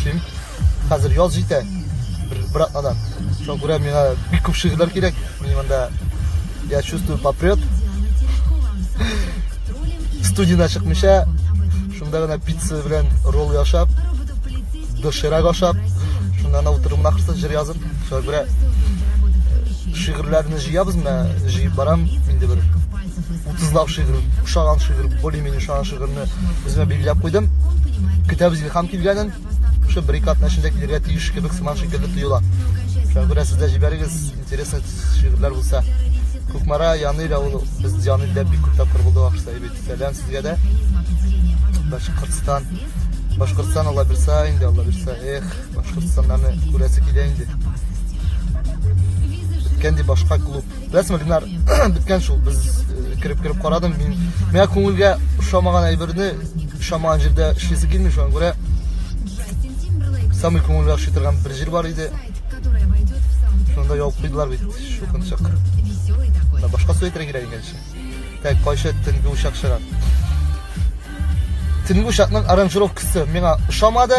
Эшлим. Хәзер яз җитә. Бер, бер атнадан. Шуңа күрә миңа бик күп шигырьләр кирәк. Мин монда я чувствую попрет. Студияда чыкмыйча, шунда гына пицца белән ролл яшап, доширак ашап, шунда гына утырып нахрысы җыр язып, шуңа күрә э, шигырьләрне җыябыз, мә җыеп барам инде бер 30 лап шигырь, ошаган шигырь, более-менее ошаган шигырьне үземә билгеләп куйдым. Көтәбез Илһам килгәнен шул бер ике атна эчендә килергә тиеш кебек сыман шикелле тоела. Шуңа күрә сез дә җибәрегез, интересный шигырьләр булса. Кукмара Янил авылы, без Янилдә бик күп тапкыр булды вакытта бит. Сәлам сезгә дә. Башкортстан. Башкортстан Алла бирса инде, Алла бирса. Эх, Башкортстаннарны күрәсе килә инде. Кенди башка клуб. Беләсеңме, Ленар, беткән шул. Без кереп-кереп карадым. Мин миңа күңелгә ошамаган әйберне ошамаган җирдә эшлисе килми, шуңа күрә самый күңелгә ошый торган бер җир бар иде. Шунда яуып куйдылар бит, шукынчык. Да башка су әйтергә кирәк икән шул. Так, кайчы төнге учак чыгар. Төнге учакның аранжировкасы миңа ошамады.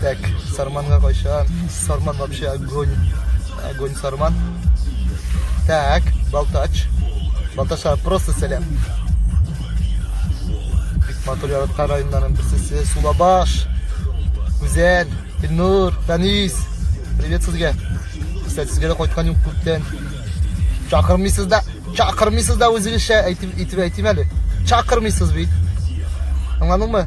Так, сарманга кайчан? Сарман вообще огонь. Огонь сарман. Так, балтач. Балтача просто сәләм. Бик матур яраткан районнарның берсесе Сулабаш. Гүзәл, Илнур, Фәнис. Привет сезгә. Кстати, сезгә дә кайткан юк күптән. Чакырмыйсыз да, чакырмыйсыз да үзегезчә әйтеп әйтеп әйтим әле. Чакырмыйсыз бит. Аңладыңмы?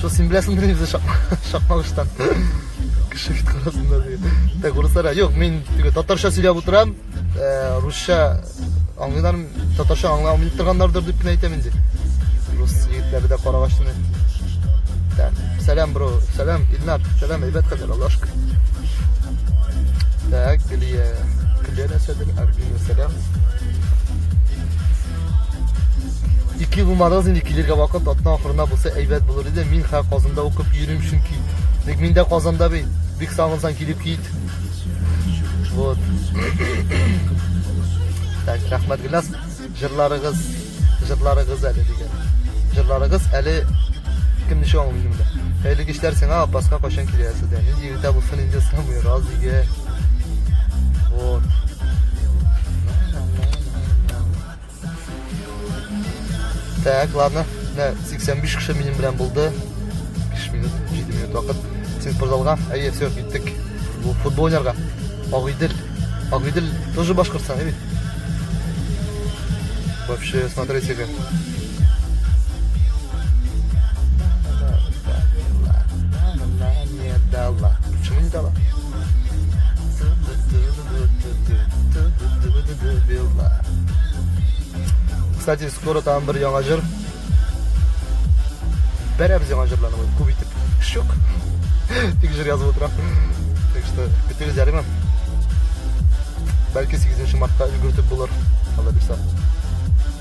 Шул син беләсең дә үзе шакмагыштан. Кеше бит карасында диген. Так, урыслар, юк, мин теге татарча сөйләп утырам, э, русча аңлыйлар, татарча аңлый алмый торганнардыр дип кенә әйтәм инде. Рус егетләре дә карагачны. Так, сәлам, бро, сәлам, Илнар, сәлам, әйбәт хәбәр, Аллаһ шөкер. Так, Гөлия, Гөлия нәрсәдер, Арбина, сәлам. Ике булмадыгыз инде килергә вакыт атна ахырына булса әйбәт булыр иде. Мин хә Казанда укып йөрим чөнки. Тик мин дә Казанда бит. Бик сагынсаң килеп кит. Вот. Так, рәхмәт Гөлназ. Җырларыгыз, җырларыгыз әле дигән. Җырларыгыз әле кем ничек аңлый инде. Хәерле кичләр сиңа, Апаска кайчан киләсез дә? Хотя бы фон идет самый разыграй. Вот. Так, ладно. Мә, 85 кеше минем белән булды. 5 минут, 7 минут вакыт. Син спортзалга. Әйе, все, киттек. Бу футбол уйнарга. Агыйдел. Агыйдел тоже башкортстан, әйе? Вообще, смотрите-ка. Кстати, скоро там бер яңа җыр. Бәрәбез яңа җырларны бу күп итеп. Шук. Тик җыр язып утыра. Так что, көтегез ярыймы? Бәлки 8 мартта өлгертеп булыр. Алла бирса.